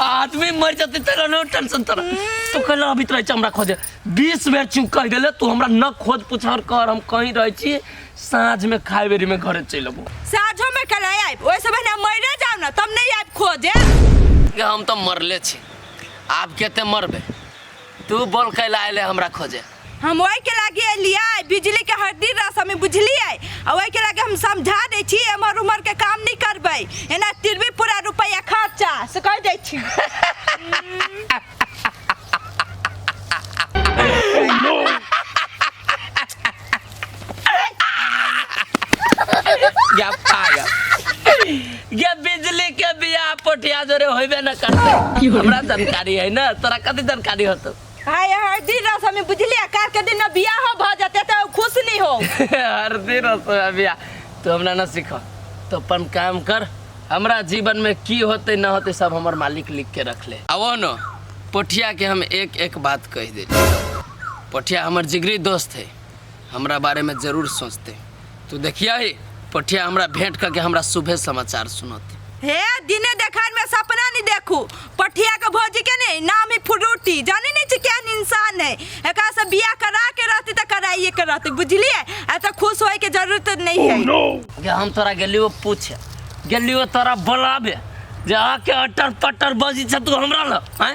आदमी मर जाते तेरा नो टेंशन तेरा तो कहला अभी तो रहै हमरा खोजे 20 बेर चुप कर गेले तू हमरा न खोज पुछार कर हम कहीं रहै छी साँझ में खाए बेरी में घरे चलि अबो साझो में कल आइब ओहि समय हम मरे जाब ना तब नहीं आइब खोजे के हम तो मरले छी आब केते मरबे तू बोल कैला आइले हमरा खोजे हम ओहि के लागी एलिए बिजली के हड्डी रस हमें बुझलिए आ ओहि के लागी हम समझा दै छी एमहर उमहर के काम नहीं करबै एना तिरबी पूरा रुपया खर्चा से कह दै छी या पागल ये बिजली के बिया पोठिया जोरे होइबे न करते हमरा जानकारी है ना तोरा कथी जानकारी होतो आय हरदी रस हमें बुझलिया कार के दिन में बियाह हो भ जते तो खुश नहीं हो हर दिन रसोया बिया तू हमरा ना सीख तो अपन काम कर हमरा जीवन में की होते ना होते सब हमर मालिक लिख के रख ले आवो न पोठिया के हम एक एक बात कह दे पोठिया हमर जिगरी दोस्त है हमरा बारे में जरूर सोचते तू देखिया ही पठिया हमरा भेंट करके हमरा शुभे समाचार सुनते हे दिने देखार में सपना नहीं देखू पठिया के भौजी के नहीं नाम ही फ्रूटी जाने नहीं छी केहन इंसान है एकरा से बियाह करा के रहती तो कराइए के रहती बुझलिए ऐसा खुश होए के जरूरत नहीं है गे हम तोरा गेलियो पूछे गेलियो तोरा बोलाबे जे आके अटर पटर बजी छ तू हमरा ल हैं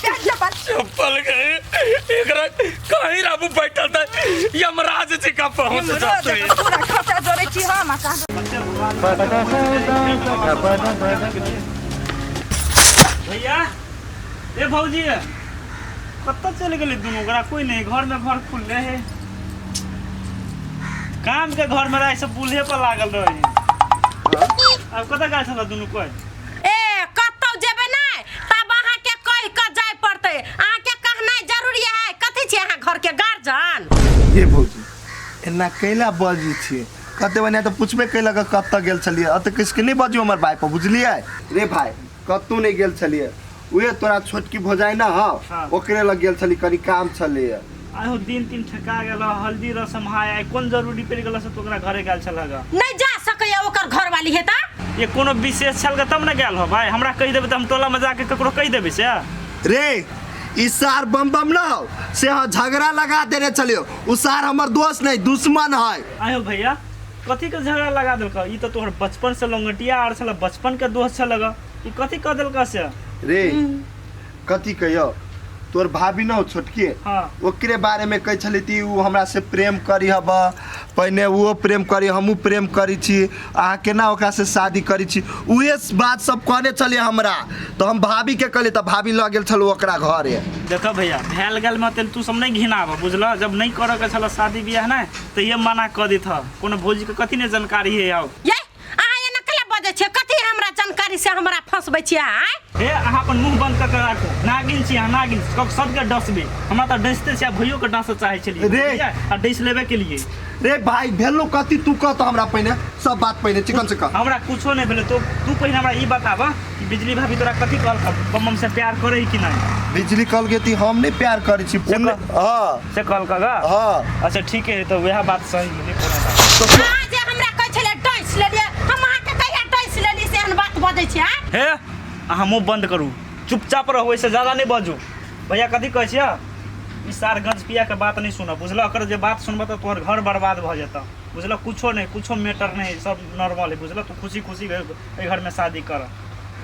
क्या चप्पल चप्पल गए एकरा कहीं राबू बैठल था यमराज जी का पहुंच यमराज जाते का पूरा खचा जोरे छी हम आ का भैया ए भौजी कतऽ चलि गेलै दुनू ओकरा कोइ नहि घरमे घर खुलले हे कामके घरमे रहै सब बूल्हे पर लागल रहै आब कतऽ गेल छल दुनू कोइ ए कतौ जेबै नहि तब अहाँके कहि कऽ जाय पड़तै अहाँके कहनाइ जरूरी है कथी छी अहाँ घरके गार्जियन ये भौजी एना कैला बाजू छी कते बने तो पूछबे कैला के कत्ता गेल छलिए अत किस के नहीं बाजू हमर भाई पर बुझलिए रे भाई कत्तू नहीं गेल छलिए उहे तोरा छोटकी भौजाई ना हां ओकरे लग गेल छली कनी काम छलिए आइ हो दिन तीन ठका गेल ह, हल्दी रसम है आइ कोन जरूरी पड़ि गेल से तो ओकरा घरे गेल छल हगा नहीं जा सकैया ओकर घर वाली है ता ये कोनो विशेष छल गा तब ने गेल हो भाई हमरा कहि देबै तऽ हम टोला में जाके ककरो कहि देबै से रे ई सार बम बम न हो से हाँ झगड़ा लगा देने चलियो उ सार हमर दोस्त नहीं दुश्मन है आयो भैया कथी के झगड़ा लगा देलक ई तऽ तोहर बचपन से लंगटिया आर छल बचपन के दोस्त छल हगा ई कथी कह देलक से रे कथी कहियो तोर भाभी न हो छोटकी हाँ। ओकरे बारे में कहे छली ती उ हमरा से प्रेम करी हब पहिने वो प्रेम करी हमू प्रेम करी छी अहाँ केना ओकरा से शादी करी छी उहे बात सब कहने छली हमरा तो हम भाभी के कहली त भाभी लऽ गेल छल ओकरा घरे देखो भैया भैल गल में तेल तू सब नहीं घिनाब बुझल जब नहीं करे के छल शादी ब्याह ना तो ये मना कर देत ह कोनो भौजी के कथी ने जानकारी है आओ ये अहाँ एना कला बजै छियै कथी हमरा जानकारी से हमरा फंसबै छियै अहाँ हे अहाँ अपन मुंह बंद कऽ के राखू नागिन छी अहाँ नागिन कब सबके डसबे हमरा तऽ डसते छै भइयो के डसऽ चाहै छलियै रे। बुझलियै? आ डस लेबे के लिए रे भाई भेलो कथी तू कह तो हमरा पहिने सब बात पहिने चिकन से कह हमरा कुछो नहि भेलै तो तू पहिने हमरा ई बताबऽ कि बिजली भाभी तोरा कथी कहलक बम्बम से प्यार करै कि नहि बिजली कल के ती हम नहीं प्यार करे छी से कह। हां से कहलक गा हां अच्छा ठीक है तो वएह बात सही हे अहाँ मुँह बंद करू चुपचाप रहू ऐसे ज्यादा नहीं बाजू भैया कथी कहे छियै ई सार गंज पिया के बात नहीं सुनब बुझल अगर जे बात सुनब तो तोहर घर बर्बाद भ जत बुझल कुछो नहीं कुछो मैटर नहीं सब नॉर्मल है बुझल तू खुशी खुशी घर में शादी कर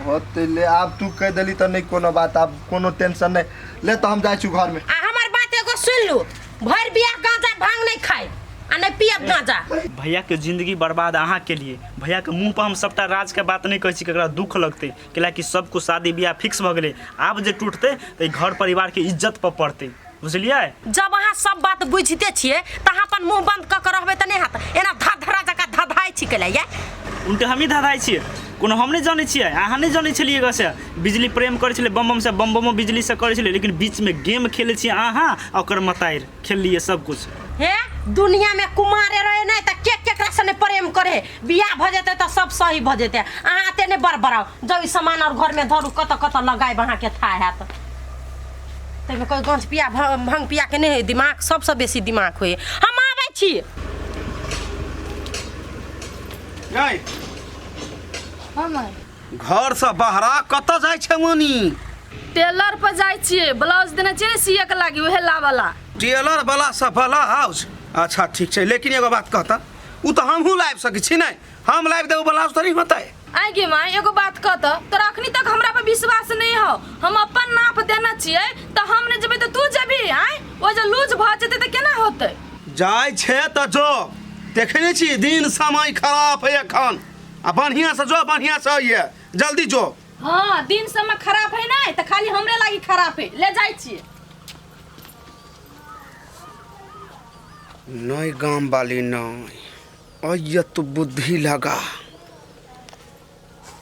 हो तो ले आब तू कह दिली तो नहीं कोनो बात आब कोनो टेंशन नहीं ले तो हम जाए घर में आ हमर बात एगो सुन लू भरि बिया गांजा भांग नहीं खाए आ नहीं पियब गांजा भैया के जिंदगी बर्बाद अहाँ के लिए भैया के मुंह पर हम सबटा राज के बात नहीं कहै छी केकरा दुख लगते कैलाकि सबको शादी बियाह फिक्स भ गेलै आब जे टूटते तऽ ई घर परिवार के इज्जत पर पड़ते बुझलिए जब अहाँ सब बात बुझते छिए त अहाँ अपन मुंह बंद क के रहबे त नहीं हाथ एना धधरा जका धधाय छी कैला ये उनके हमही धधाइ छियै कोनो हम नहि जानै छियै अहाँ नहि जानै छलियै गसे बिजली प्रेम करै छलै बम बमसँ बम बमो बिजलीसँ करै छलै लेकिन बीचमे गेम खेलै छियै अहाँ आ ओकर मतारि खेललियै सबकिछु हे दुनिया में कुमारे रहे नहीं तो के केकरा से नहीं प्रेम करे बियाह भ जेते तो सब सही भ जेते अहाँ एते नहीं बड़बड़ाओ जब ई सामान और घर में धरू कत कत लगाएब अहाँ के था हैत तैमे कोई गंज पिया भ- भंग पिया के नहीं है दिमाग सबसे बेसी दिमाग होए हम आबै छी गई हम आए घर से बहरा कत जाय छे मनी टेलर पर जाय छिए ब्लाउज देने छिए सीए के लागी उहे लावला टेलर वाला से भला हाउस अच्छा ठीक छे लेकिन एगो बात कहता उ तो हमहू लाइव सके छी नहीं हम लाइव देबो ब्लाउज तो नहीं होता है आइ गे माँ एगो बात कह तो तोरा अखनी तक हमरा पर विश्वास नहीं हो हम अपन नाप देना छिए तो हम ने जेबे तो तू जेबी आय ओ जे लूज भ जेते तो केना होते जाय छे त जो देखने छी दिन समय खराब है एखन आ बढ़िया से जो बढ़िया से आइए जल्दी जो हाँ दिन समय खराब है ना तो खाली हमरे लागी खराब है ले जाए छिए नई गाम वाली नई अय तू बुद्धि लगा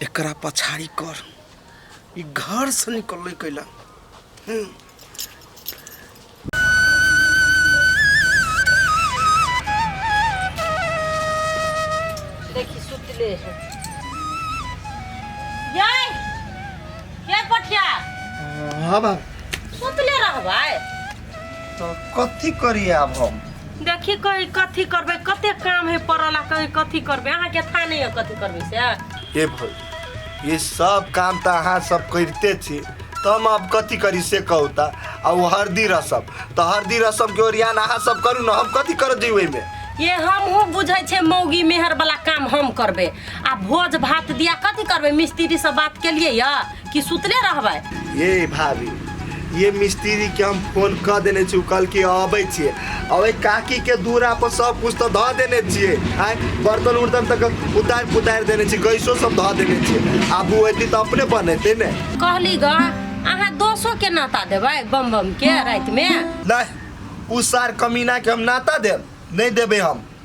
एकरा पछाड़ी कर ई घर से निकल कैला हम्म। देखी सुतले है यई के पठिया हाँ बा सुतले रहबै तो कथी करी आब हम देखी कहीं कथी करबै कते काम है पड़ल आ कहीं कथी करबै अहाँके था नहीं है कथी करबै से ए भाई ये सब काम त अहाँ सब करिते छी तम अब कथी करी से कहू त आ ओ हरदी रसम त हरदी रसम के ओरियान अहाँ सब करू न हम कथी कर दी ओहिमे ये हम हूँ बुझे छे मौगी मेहर वाला काम हम करबे आ भोज भात दिया कथी करबे मिस्त्री से बात के लिए या कि सुतले रहबे ये भाभी ये मिस्त्री के हम फोन क देने छी कल के अबै छी अबै काकी के दूरा पर सब कुछ तो ध देने छिए आय बर्तन उर्तन तक उतार पुतार देने छी गैसो सब ध देने छिए आब ओ एती त अपने बनेते ने कहली ग अहाँ दोसो के नाता देबै बम बम के राति में नहीं उ सार कमीना के हम नाता देब नहीं देबे हम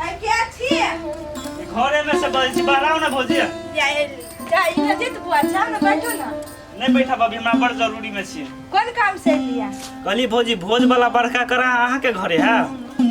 है क्या छी ई घरे में से बजै छी बाहर ना भौजी या एली जा ई ना देत बुआ जा ना बैठो ना नहीं बैठा भाभी हमरा बड़ जरूरी में छी कोन काम से लिया कहली भौजी भोज वाला बड़का करा अहाँ के घरे है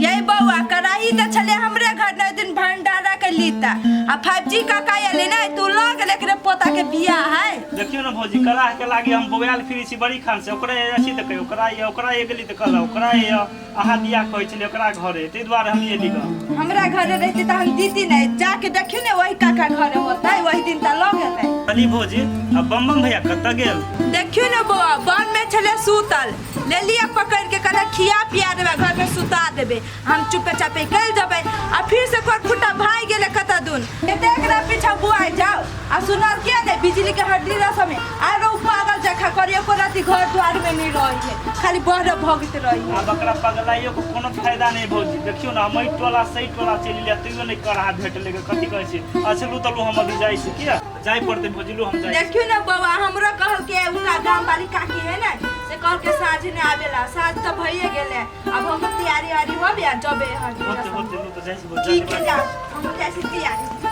यही बउआ कराही त छले हमरे घर ने दिन भंडारा के लीता आ 5G का का एले ना तू लग लेकर पोता के बियाह है देखियो ना भौजी करा के लागी हम बोयाल फिरी छी बड़ी खान से ओकरा ये छी त कहियो ओकरा ये ओकरा ये गेली त कहला ओकरा ये अहाँ दिया कहै छलिए ओकरा घरे तै दुआरे हम एली ग हमरा घरे रहती त हम दीती नै जाके देखियो ने वही काका घरे होतै वही दिन त लग गेलै अली भोजी आ बम बम भैया कत गेल देखियो ने बौआ बन में छले सूतल ले लिया पकड़ के कहले खिया पिया देबे घर में सुता देबे हम चुपे चापे गल जबे आ फिर से कोर फुटा भाई गेले कत दुन एते एकरा पीछा बुआ जाओ आ सुनल के ने बिजली के हड्डी रस में आरो उ पागल जखा करी एको राती घर द्वार में नहीं रही है खाली बहर भगत रही है अब एकरा पगलाइयो को कोनो फायदा नहीं भौजी देखियो ना हम ई टोला सही टोला चलि लिया तैयो नहीं करा भेट लेके कथी कहै छी अच्छा लू तलू हम अभी जाइ छी किया जाय पड़ते भौजी लू हम जाइ छी। देखियो ना बाबा हमरो कहल के उनका गांव वाली काकी है ना से कहल के साँझ ने आवेला साँझ तो भइए गेले अब हम तैयारी वारी हो गया जबे हड्डी होते रस में। होते लू तो जाइ छी भौजी ठीक है जा हम जैसे तैयारी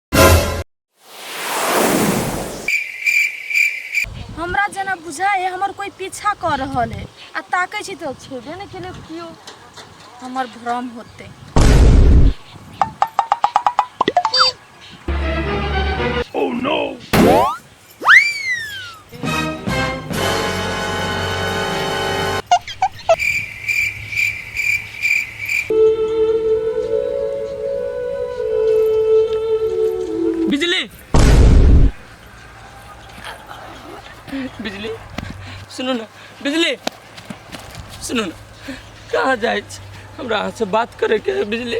हमरा जेना बुझाइए हमर कोइ पीछा कऽ रहल है आ ताकै छी तऽ छेबे नहि केलै केओ हमर भ्रम होतै Oh no! बिजली बिजली सुनू ने बिजली सुनू ने कहाँ जाइ छी हमरा अहाँसँ बात करैके है बिजली